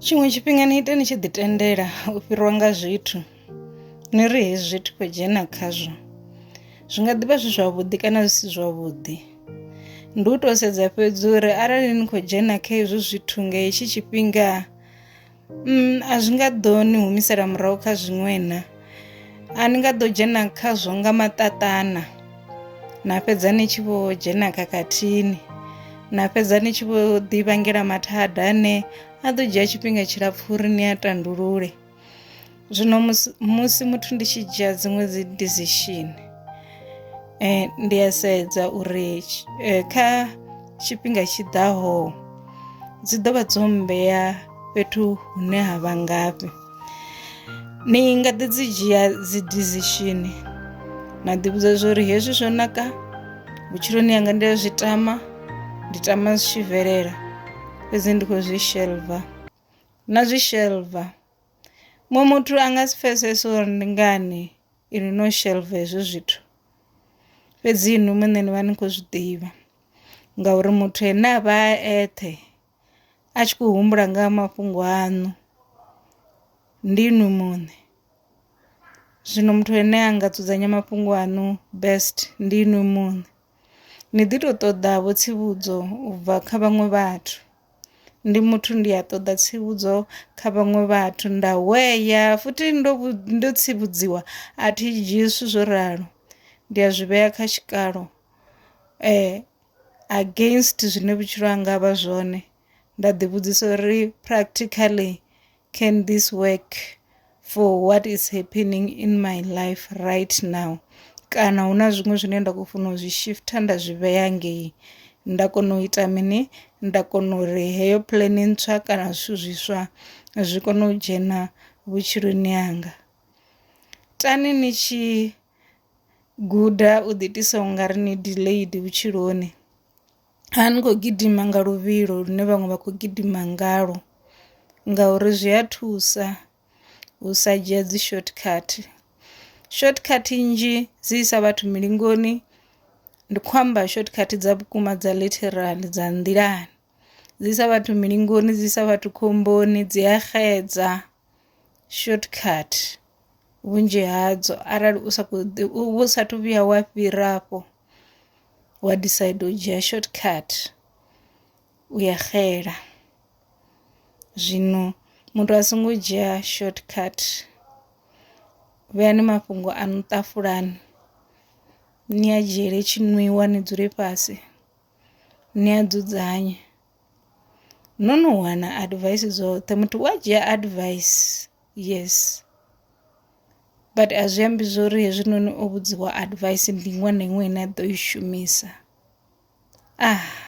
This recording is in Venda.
tshiṅwe tshifhinga ni ite ni tshi ḓi tendela u fhirwa nga zwithu ni ri hezwi zwithu khou dzhena khazwo zwi nga ḓivha zwi zwavhuḓi kana zwi si zwavhuḓi ndi u tou sedza fhedzi uri arali ni khou dzhena kha hezwo zwithu nga hetshi tshifhinga mm, a zwi nga ḓo ni humisela murahu kha zwiṅwe na a ni nga ḓo dzhena khazwo nga maṱaṱana na fhedza ni tshi vho dzhena khakhathini na fhedza ni tshi vho ḓi vhangela mathada ane a ḓo dzhia tshifhinga tshilapfhu uri ni a tandulule zwino musi muthu ndi tshi dzhia dziṅwe dzi decision eh, ndi a sedza uri eh, kha tshifhinga tshi ḓaho dzi ḓo vha dzo mmbea fhethu hune ha vha ngafhi Ni nga ḓi dzi dzhia dzi decision na ḓi vhudza zwori hezwi zwo naka vhutshiloni hanga ndi a zwi tama ndi tama zwi tshi bvelela fhedzi ndi khou zwi shelva na zwi shelva muṅwe muthu a nga si pfesese uri ndi ngani ini no shelva hezwi zwithu fhedzi inwi muṋe ni vha ni khou zwi ḓivha ngauri muthu ane a vha a eṱhe a tshi khou humbula nga ha mafhungo aṋu ndi inwi muṋe, zwino muthu ane a nga dzudzanya mafhungo aṋu best ndi inwi muṋe. Ni ḓi to ṱoḓa vho tsivhudzo u bva kha vhaṅwe vhathu, ndi muthu ndi a ṱoḓa tsivhudzo kha vhaṅwe vhathu nda hweya futhi ndo ndo tsivhudziwa a thi dzhii zwithu zwo ralo ndi a zwi vhea kha tshikalo . against zwine vhutshilo hanga vha zwone nda ḓi vhudzisa uri practically can this work for what is happening in my life right now kana hu na zwiṅwe zwine nda khou funa u zwi shifter nda zwi vhea ngei nda kona u ita mini nda kona uri heyo puḽene ntswa kana zwithu zwiswa zwi kone u dzhena vhutshiloni hanga tani ni tshi Guda u ḓiitisa u nga ri ni delayed vhutshiloni, a ni khou gidima nga luvhilo lune vhaṅwe vha khou gidima ngalwo ngauri zwi a thusa u sa dzhia dzi short cut. Short cut nnzhi dzi isa vhathu mulingoni ndi khou amba short cut dza vhukuma dza literally dza nḓilani. dzi isa vhathu milingoni dzi isa vhathu khomboni dzi a xedza shortcut vhunzhi hadzo arali u sa khou ḓi u vhu sathu vhuya wa fhira afho wa decide u dzhia shortcut u ya xela zwino muthu a songo dzhia shortcut vheani mafhungo a no ṱafulani ni a dzhiele tshinwiwa ni dzule fhasi. Ni a dzudzanya no no wana advice dzoṱhe muthu u a dzhia advice yes but a zwi ambi zwori hezwinoni o vhudziwa advice ndi iṅwe na iṅwe ine a ḓo i shumisa .